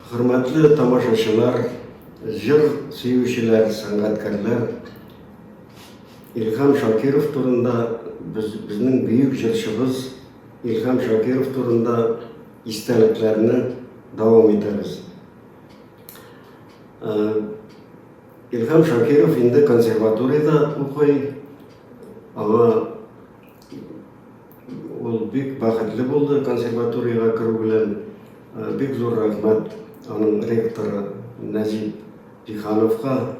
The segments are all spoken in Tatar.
Хөрмәтле тамашачылар, җыр сөючеләр, сәнгатькәрләр! Илһам Шакиров турында без, безнең бөек җырчыбыз Илһам Шакиров турында истәлекләрне дәвам итәбез. Илһам Шакиров инде консерваториядә укый, аңа Ул бик бәхетле булды консерваториягә керү белән. Бик зур рәхмәт аның ректоры Нәҗип Җиһановка,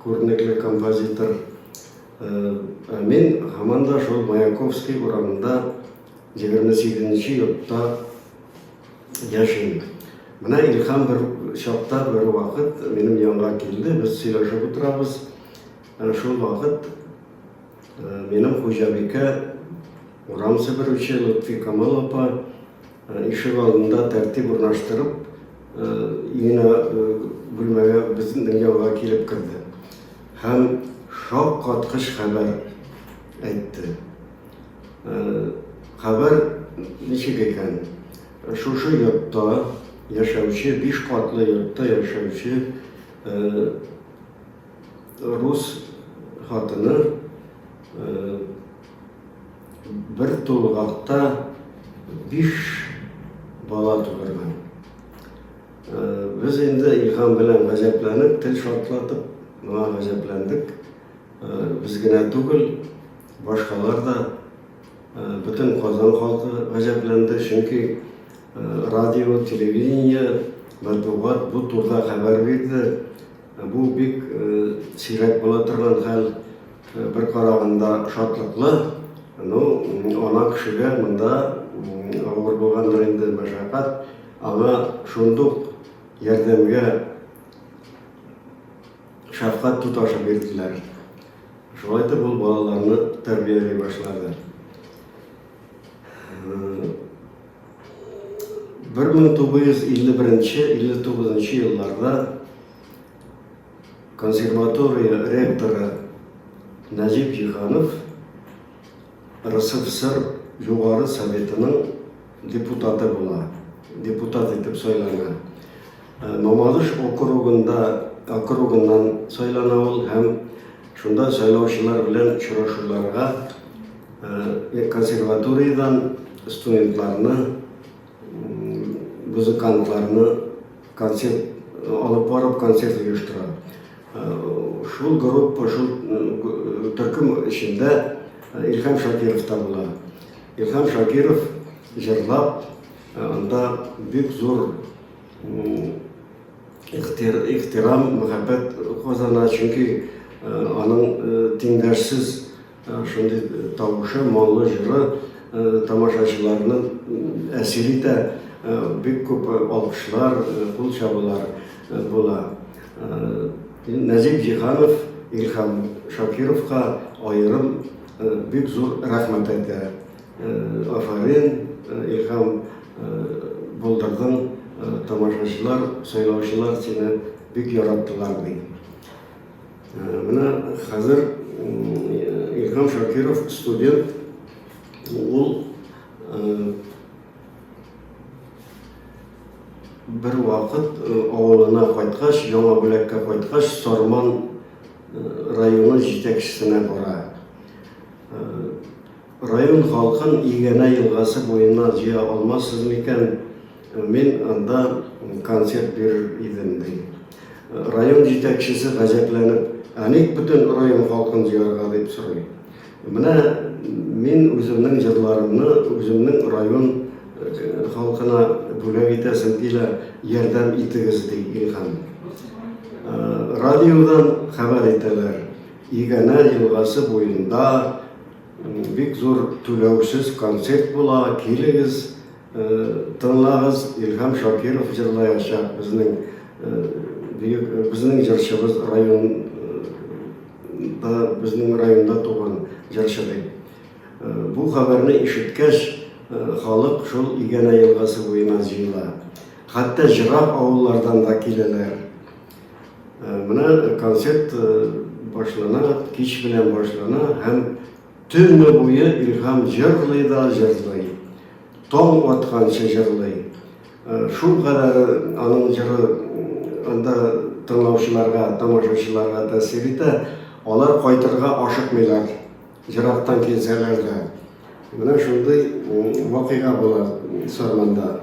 күренекле композитор. Ә мин һаман да шул Маяковский урамында 28 нче йортта яшим. Менә Илһам бер чакта бер вакыт минем янга килде, без сөйләшеп утырабыз. Шул вакыт Минем хуҗабикә, урам себерүче Лотфи Камал апа ишек алдында тәртип урнаштырып, өенә бүлмәгә безнең янга килеп керде. Һәм шок каткыч хәбәр әйтте. Хәбәр ничек икән? Шушы йортта яшәүче, биш катлы йортта яшәүче рус хатыны э, бер тулгакта биш бала тудырган э, без инде илһам белән гаҗәпләнеп тел шартлатып моңа гаҗәпләндек э, без генә түгел башкалар да бөтен казан халкы гаҗәпләнде чөнки радио телевидение матбугат бу турыда хәбәр бирде Бу бик сирәк була торган хәл. Бер караганда шатлыклы, ну, ана кешегә монда авыр булгандыр инде мәшәкать, аңа шундук ярдәмгә шәфкать туташы бирделәр. Шулай итеп ул балаларны тәрбияли башлады. Бер мең тугыз йөз илле беренче илле тугызынчы елларда консерватория ректоры Нәҗип Җиһанов РСФСР Югары Советының депутаты була, депутат итеп сайлана. Мамадыш округында округыннан сайлана ул һәм шунда сайлаучылар белән очрашуларга консерваториядән студентларны, музыкантларны концерт алып барып концерт оештыра. Шул группа, шул төркем эчендә Илһам Шакиров та була. Илһам Шакиров җырлап, анда бик зур ихтирам, мәхәббәт казана, чөнки аның тиңдәшсез шундый тавышы, моңлы җыры тамашачыларны әсир итә, бик күп алкышлар, кул чабулар була. Нәҗип Җиһанов Илһам Шакировка аерым бик зур рәхмәт әйтә. Афарин, Илһам, булдырдың, тамашачылар, сайлаучылар сине бик яраттылар ди. Менә хәзер Илһам Шакиров студент, ул бер вакыт авылына кайткач, Яңа Бүләккә кайткач, Сарман районы җитәкчесенә бара. Район халкын Игәнә елгасы буена җыя алмассыз микән, мин анда концерт бирер идем, ди. Район җитәкчесе гаҗәпләнеп, Ә ник бөтен район халкын җыярга, дип сорый. Менә мин үземнең җырларымны үземнең район халкына бүләк итәсем килә, ярдәм итегез, ди Илһам. Радиодан хәбәр итәләр, Игәнә елгасы буенда Бик зур түләүсез концерт була, килегез, тыңлагыз, Илһам Шакиров җырлаячак, безнең бөек, безнең җырчыбыз район, безнең районда туган җырчы бит. Бу хәбәрне ишеткәч, халык шул Игәнә елгасы буена җыела. Хәтта җырап авыллардан да киләләр. Менә концерт башлана, кич белән башлана һәм төне буе Илһам җырлый да җырлый. Таң атканчы җырлый. Шул кадәр аның җыры анда тыңлаучыларга, тамашачыларга тәэсир итә, алар кайтырга ашыкмыйлар, ерактан килсәләр дә. Менә шундый вакыйга була Сарманда.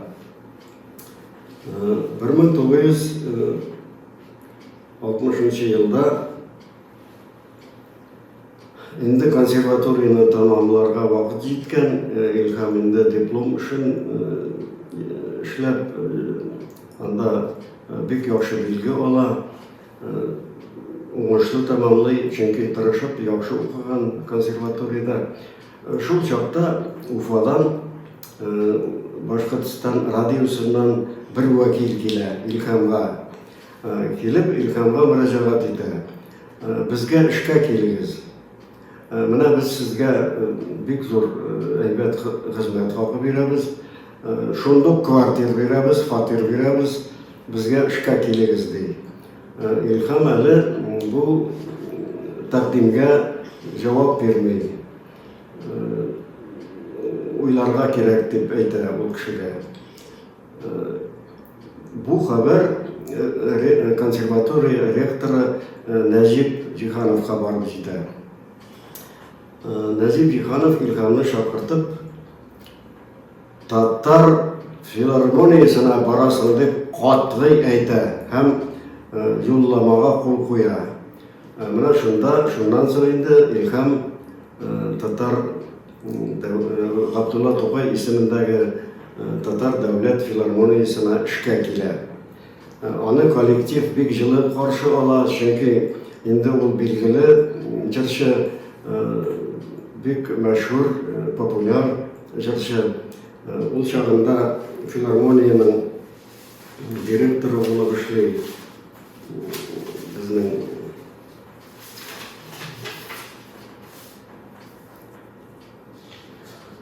1960 елда инде консерваторияны тәмамларга вакыт җиткән Илһам инде диплом эшен эшләп анда бик яхшы билге ала уңышлы тәмамлый чөнки тырышып яхшы укыган консерваториядә Шул чакта Уфадан Башкортстан радиосыннан бер вәкил килә Илхамга. Килеп Илхамга мөрәҗәгать итә. Безгә эшкә килегез. Менә без сезгә бик зур әйбәт хезмәт хакы бирәбез. Шундук квартир бирәбез, фатир бирәбез. Безгә эшкә килегез, ди. Илһам әле бу тәкъдимгә җавап бирми. Уйларга кирәк дип әйтә ул кешегә. Бу хәбәр консерватория ректоры Нәҗип Җиһановка барып җитә. Нәҗип Җиһанов Илһамны чакыртып, Татар филармониясенә барасың дип катгый әйтә һәм юлламага кул куя. Менә шунда, шуннан соң инде Илһам татар Габдулла Тукай исемендәге татар дәүләт филармониясенә эшкә килә. Аны коллектив бик җылы каршы ала, чөнки инде ул билгеле җырчы, бик мәшһүр, популяр җырчы. Ул чагында филармониянең директоры булып эшли безнең.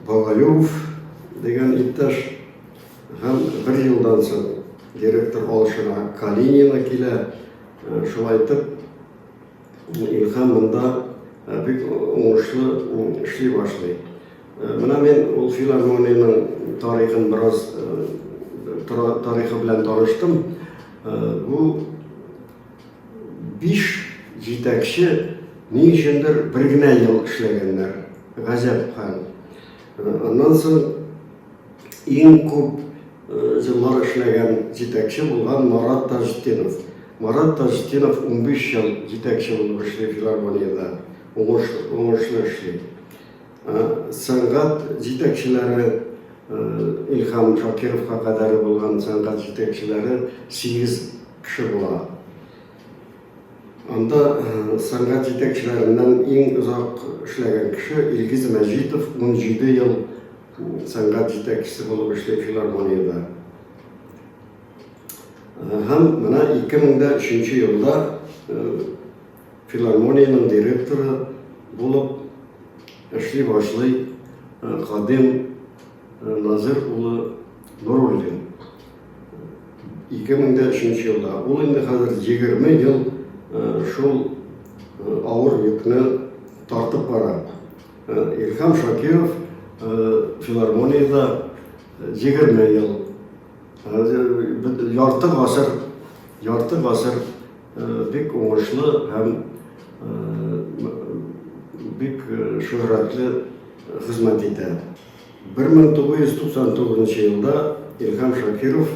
Бабаюв дигән иптәш һәм бер елдан соң директор алышына Калинина килә. Э, шулай итеп, Илһам монда э, бик уңышлы эшли башлый. Э, менә мин ул филармониянең тарихын бераз тарихы белән таныштым. Бу Биш җитәкче ни өчендер бер генә ел эшләгәннәр. Газәп хәл. Аннан соң иң күп җыллар эшләгән җитәкче булган Марат Таҗетдинов. Марат Таҗетдинов унбиш ел җитәкче булып эшли филармониядә, уңыш, уңышлы эшли. Сәнгать җитәкчеләре, Илһам Шакировка кадәр булган сәнгать җитәкчеләре сигез кеше була. Анда сәнгать җитәкчеләреннән иң озак эшләгән кеше Илгиз Мәҗитов, унҗиде ел сәнгать җитәкчесе булып эшли филармониядә. Һәм менә ике мең дә өченче елда Филармониянең директоры булып эшли башлый Кадим Назир улы Нуруллин. 2003 елда. Ул инде хәзер 20 ел шул авыр йөкне тартып бара. Илһам Шакиров филармониядә 20 ел Ярты гасыр, ярты гасыр бик уңышлы һәм бик шөһрәтле хезмәт итә. 1999 елда Илһам Шакиров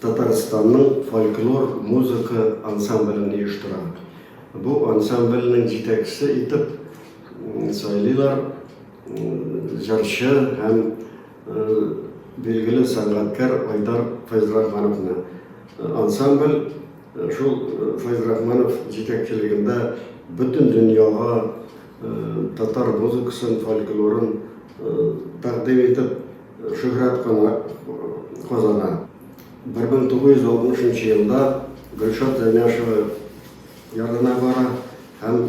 Татарстанның фольклор музыка ансамблен оештыра. Бу ансамбльнең җитәкчесе итеп сайлыйлар җырчы һәм Билгеле сәнгатькәр Айдар Фәйзрахмановны ансамбль шул Фәйзрахманов җитәкчелегендә бөтен дөньяга татар музыкасын, фольклорын тәкъдим итеп, шөһрәт казана. 1960 нчы елда Гөлшат Зәйнәшева янына бара һәм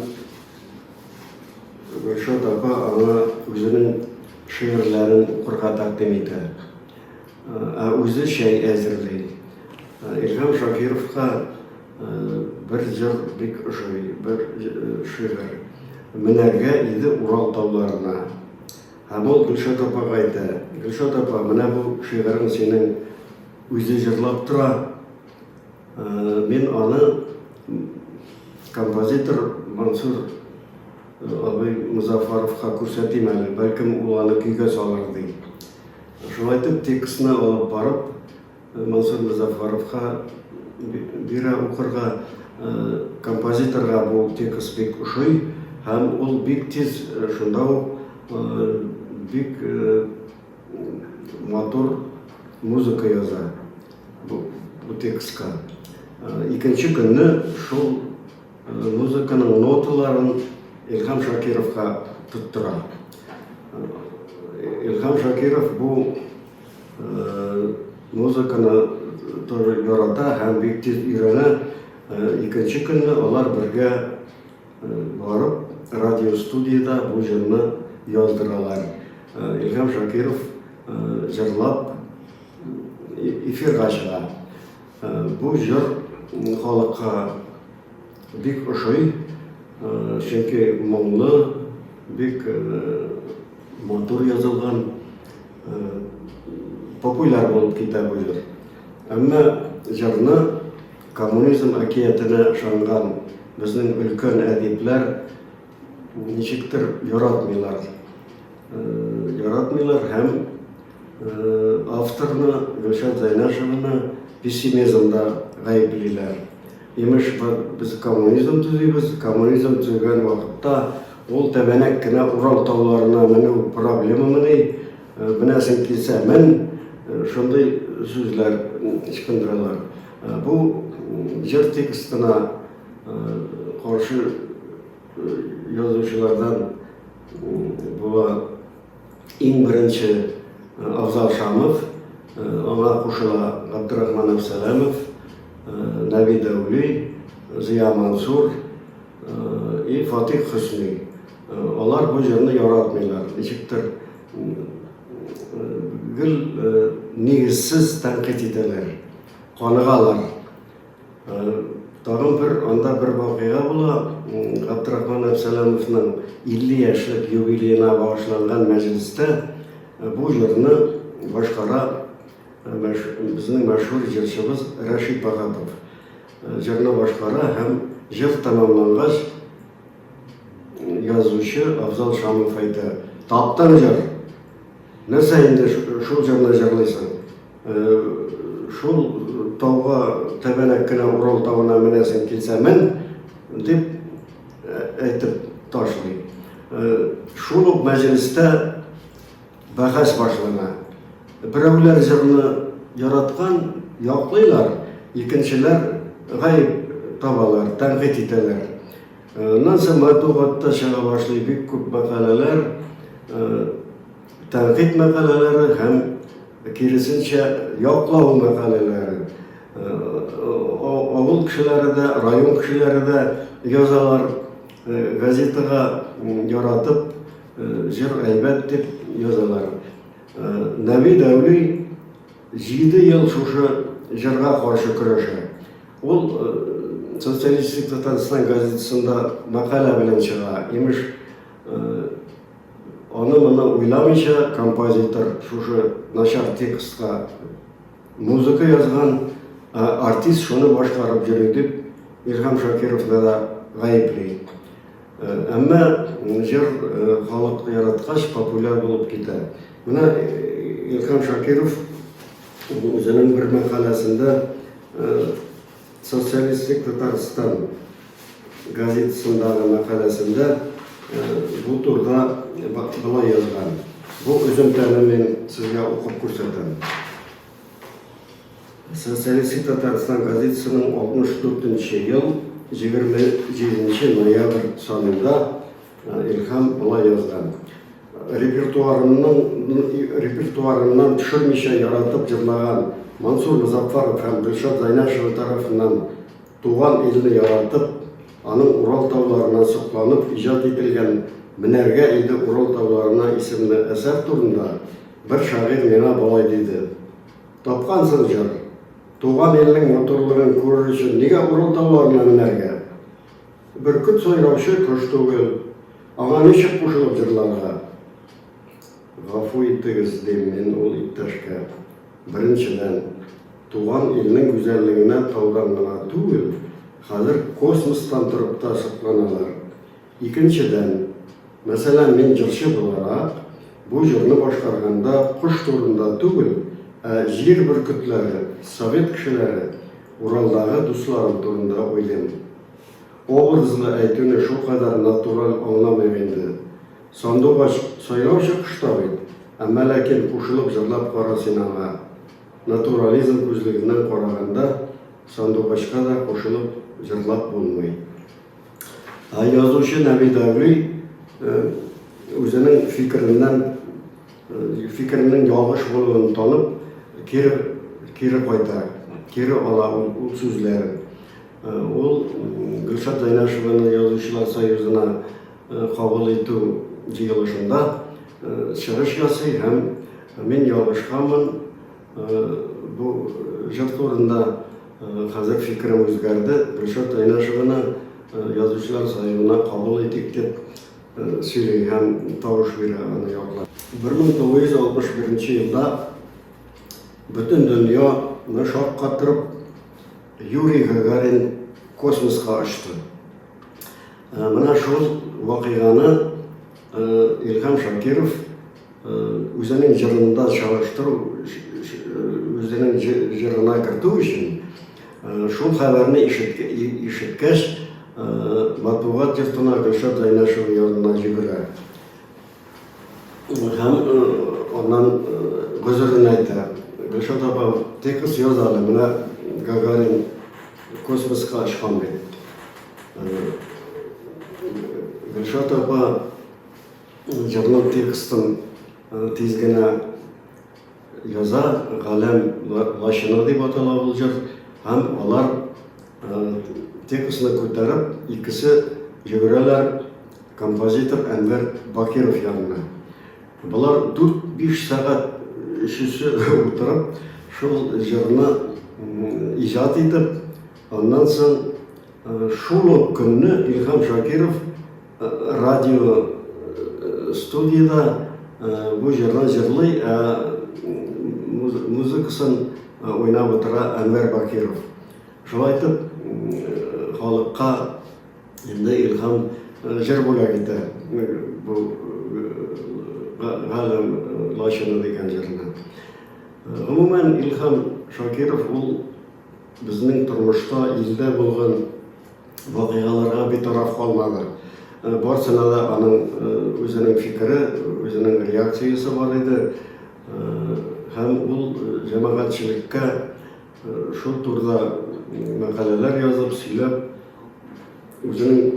Гөлшат апа аңа үзенең шигырьләрен укырга тәкъдим итә. Ә үзе чәй әзерли. Илһам Шакировка бер җыр бик ошый, бер шигырь. Менәргә иде Урал тауларына. Һәм ул Гөлшат апага әйтә, Гөлшат апа, менә бу шигырен синең үзе җырлап тора. Мин аны композитор Мансур абый Музафаровка күрсәтим әле, бәлкем ул аны көйгә салыр ди. Шулай итеп текстны алып барып, Мансур Музафаровка бирә укырга композиторга бу текст бик ошый һәм ул бик тиз шунда ук бик Матур музыка яза бу, бу текстка. Икенче көнне шул музыканың ноталарын Илһам Шакировка тоттыра. Илһам Шакиров бу музыканы тоже ярата һәм бик тиз өйрәнә. Икенче көнне алар бергә Барып радиостудиядә бу җырны яздыралар. Илһам Шакиров җырлап эфирга чыга. Бу җыр халыкка бик ошый, чөнки моңлы, бик матур язылган, популяр булып китә бу җыр. Әмма җырны Коммунизм әкиятенә ышанган безнең өлкән әдипләр ничектер яратмыйлар. Яратмыйлар һәм авторны, Гөлшат Зәйнәшеваны пессимизмда гаеплиләр. Имеш, без коммунизм төзибез, коммунизм төзегән вакытта ул тәбәнәк кенә Урал тауларына менү проблемамыни, менәсең килсә мен, шундый сүзләр ычкындыралар. Бу җыр текстына каршы язучылардан була иң беренче Абзал Шамов, аңа кушыла Габдрахман Әбсәләмов, Нави Дәүли, Зыя Мансур и Фатих Хөсни. Алар бу җырны яратмыйлар, ничектер Гел нигезсез тәнкыйть итәләр, каныгалар. Тагын бер анда бер вакыйга була, Габдрахман Әпсәләмовның 50 яшьлек юбилеена багышланган мәҗлестә бу җырны башкара безнең мәшһүр җырчыбыз Рәшит Бахатов. Җырны башкара һәм җыр тәмамлангач, Язучы Абзал Шамов әйтә, Таптың җыр! Нәрсә инде шул җырны җырлыйсың? Шул тауга тәбәнәк кенә Урал тавына менәсең килсә мен! дип әйтеп ташлый. Шул ук мәҗлестә Бәхәс башлана. Берәүләр җырны яраткан, яклыйлар, икенчеләр гаеп табалар, тәнкыйть итәләр. Аннан соң матбугатта чыга башлый бик күп мәкаләләр, тәнкыйть мәкаләләре һәм киресенчә яклау мәкаләләре. Авыл кешеләре дә, район кешеләре дә язалар газетага яратып. Җыр әйбәт дип язалар. Навид әүли җиде ел шушы җырга каршы көрәшә. Ул Социалистик Татарстан газетасында мәкалә белән чыга. Имеш, аны-моны уйламыйча композитор шушы начар текстка музыка язган, ә артист шуны башкарып йөри дип, Илһам Шакировны да гаепли. Әмма җыр халык яраткач, популяр булып китә. Менә Илһам Шакиров үзенең бер мәкаләсендә Социалистик Татарстан газетасындагы мәкаләсендә бу турыда болай язган. Бу өземтәне мин сезгә укып күрсәтәм. Социалистик Татарстан газетасының 64 нче ел 27 ноябрь санында Илһам былай язган. Репертуарымның репертуарымнан төшермичә яратып җырлаган Мансур Музаффаров һәм Гөлшат Зайнашева тарафыннан туган илне яратып, аның Урал тауларына сокланып иҗат ителгән Менәргә иде Урал тауларына исемле әсәр турында Бер шагыйрь миңа болай диде, Тапкансың җыр! Туган илнең матурлыгын күрер өчен нигә Урылтауларына менәргә? Бөркет сайраучы кош түгел, аңа ничек кушылып җырларга? Гафу итегез, дим мин ул иптәшкә, беренчедән, туган илнең гүзәллегенә таудан гына түгел, хәзер космостан торып та сокланалар. Икенчедән, мәсәлән, мин җырчы буларак, бу җырны башкарганда кош турында түгел, ә җир бөркетләре, совет кешеләре, Уралдагы дусларым турында уйлыйм. Образлы әйтүне шулкадәр натураль аңламыйк инде. Сандугач сайлаучы кош та бит, ә Мәләкин кушылып җырлап кара син аңа. Натурализм күзлегеннән караганда, сандугачка да кушылып җырлап булмый. Язучы Нәби Дәүли үзенең фикереннән, фикеренең ялгыш булуын танып, кире, кире кайта, кире ала ул, ул сүзләрен. Ул Гөлшат Зайнашеваны Язучылар союзына кабул итү җыелышында чыгыш ясый һәм Мин ялгышканмын, Бу җыр турында хәзер фикерем үзгәрде. Гөлшат Айнашеваны язучылар союзына кабул итик дип сөйли һәм тавыш бирә аны яклап. 1961 елда бөтен дөньяны шаккатырып Юрий Гагарин космоска очты. Менә шул вакыйганы Илһам Шакиров Үзенең җырында чагыштыру, үзенең җырына кертү өчен, шул хәбәрне ишеткәч, матбугат йортына Гөлшат Зәйнәшева янына йөгерә һәм аннан гозерен әйтә. Гөлшат апа, текст яз әле, менә Гагарин космоска очкан бит. Гөлшат апа. җырның текстын тиз генә яза, галәм лачыны дип атала ул җыр, һәм алар текстны күтәреп, икесе йөгерәләр композитор Әнвәр Бакиров янына. Болар 4-5 сәгать өчесе утырып, шул җырны иҗат итеп, аннан соң шул ук көнне Илһам Шакиров Радио студияда бу җырны җырлый, ә музыкасын уйнап утыра Әнвәр Бакиров. Шулай итеп, халыкка инде илһам җыр бүләк итә бу галәм лачыны дигән җырны. Гомумән, Илһам Шакиров ул Безнең тормышта, илдә булган вакыйгаларга битараф калмады. Барсына да аның үзенең фикере, үзенең реакциясе бар иде. Һәм ул җәмәгатьчелеккә шул турыда мәкаләләр язып, сөйләп, үзенең